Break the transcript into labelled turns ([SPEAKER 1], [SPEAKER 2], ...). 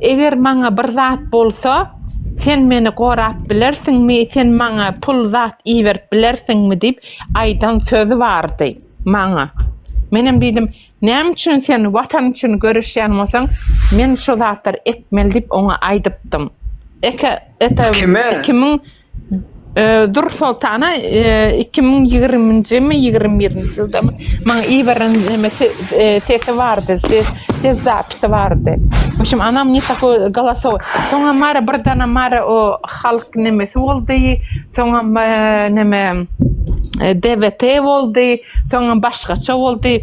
[SPEAKER 1] Eger maňa bir zat bolsa, sen meni gorap bilersiňmi, sen maňa pul zat iberip bilersiňmi diýip aýdan sözi bardy maňa. Menem diýdim, näme üçin sen watan üçin göreşýän bolsaň, men şu zatlary etmeli diýip oňa aýdypdym. Eke, ete, Kime? iki müň Dur Soltana 2020-mi 21-nji ýyldamy maňa iberen neme sesi bardy, ses ses zapisi bardy. Şum anam ne takoy galasow. Soňa mara bir dana mara o halk nemesi boldy. Soňa neme DVT boldy, soňam başgaça boldy.